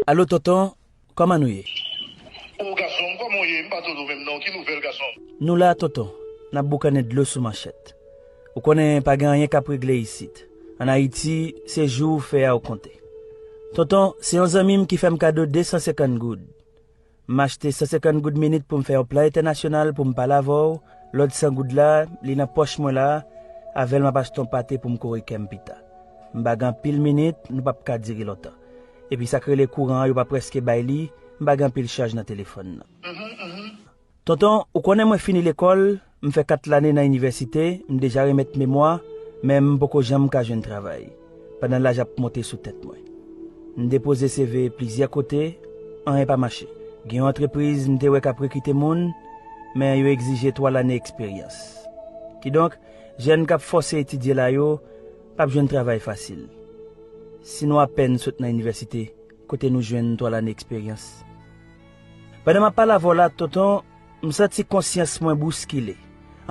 Alo tonton kòman nou ye. Oh gasonm kòman w ye m pa tande w menm non ki nouvèl gasonm. Nou la tonton nap boukannen dlo sou manchèt ou konnen pa gen anyen kap regle isit an ayiti se jou ou fè a ou konte tonton se yon zanmi m ki fè m kado 250 goud M achte 150 goud minit pou m fè yon plan entènasyonal pou m pale avè w, lòt 100 goud la, li nan pòch mwen la, avè l m ap achte yon pate pou m kore kè m pita. M bagen anpil minit, nou p ap ka dire lontan. Epi sa k rele kouran an yo pa prèske bay li, m bagen anpil chaj nan telefòn nan. Tonton, ou konnen mwen fini lekòl, M fè kat lane nan inivèsite, m deja remèt memwa, men m poko janm ka jwenn travay, pandan laj ap monte sou tèt mwen. M depoze CV plizyè kote, anyen pa mache. Gen yon antrepriz m te wè k ap rekite moun, men yo egzije 3 lane eksperyans. Kidonk, jèn k ap fòse etidye la yo, p ap jwenn travay fasil. Si nou apèn sot nan inivèsite, kote nou jwenn 3 lane eksperyans? Pandan m ap pale avè w la, tonton, M santi konsyans mwen bouskile.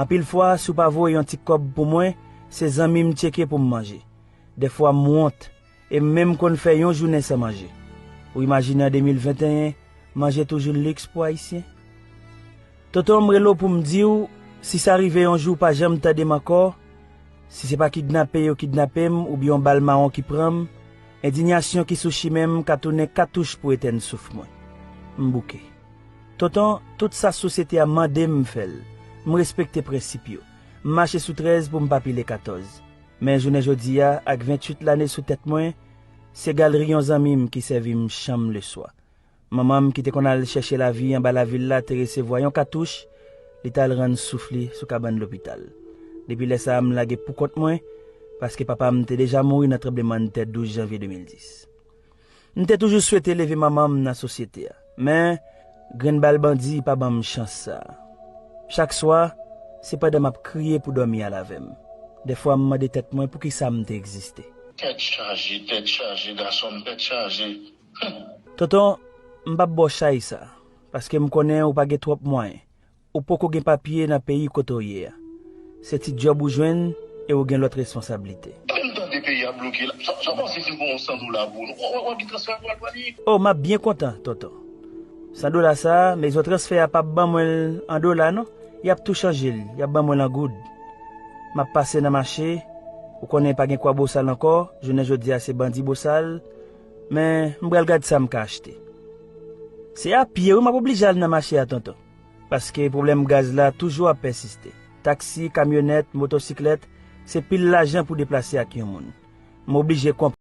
Anpil fwa, si w pa voye yon ti kòb pou mwen, se zanmi m tcheke pou m manje. Dèfwa m wont, e m menm konn fè yon jounen san manje. Ou imajine an 2021, manje toujou liks pou Ayisyen? Tonton, m rele w pou m di w, si sa rive yon jou w pa janm tande m ankò, si se pa kidnape yo kidnape m oubyen yon bal mawon ki pran m, endinyasyon ki sou chimen m ka tounen katouch pou etèn souf mwen. M bouke. Tonton, tout sa sosyete a mande m m fè l. M respekte prensip yo. M mache sou 13 pou m pa pile 14. Men jounen jodi a, ak 28 lane sou tèt mwen, se galri yon zanmi m ki sèvi m chanm leswa. Manman m ki te konn al chèche lavi anba lavil la te resevwa yon katouch, li t al rann souf li sou kabann lopital. Depi lè sa a m lage poukont mwen, paske papa m te deja mouri nan tranblemann tè 12 janvye 2010. M te toujou swete leve manman m nan sosyete a. Men, grenn bal bandi pa ban m chans sa a. Chak swa, se pandan m ap kriye pou dòmi al avè m. Dèfwa m mande tèt mwen poukisa m te egziste. Tèt chaje, tèt chaje, gason m, tèt chaje, humm. Tonton, m p ap ba w chay sa a, paske m konnen ou pa gen twòp mwayen. Ou poko gen papye nan peyi kote w ye a. Se ti djòb ou jwenn e ou gen lòt responsablite. Epi m tande peyi a bloke la. Sa w panse si m pran yon 100 dola pou ou? Ou wè ki transfè pral pran li? O, m ap byen kontan, tonton. 100 dola sa a, mezon transfè a pap ban mwen l an dola non. Y ap tou chanje l, y ap ban mwen l an goud. M ap pase nan mache, ou konnen pa gen kwa bosal ankò, jounen jodi a se bandi bosal, men m pral gad sa m ka achte. Se a pye wi m ap oblije al nan mache a tonton. Paske pwoblèm gaz la toujou ap pèsiste. Taksi, kamyonèt, motosiklèt, se pil lajan pou deplase ak yon moun. M oblije konprann.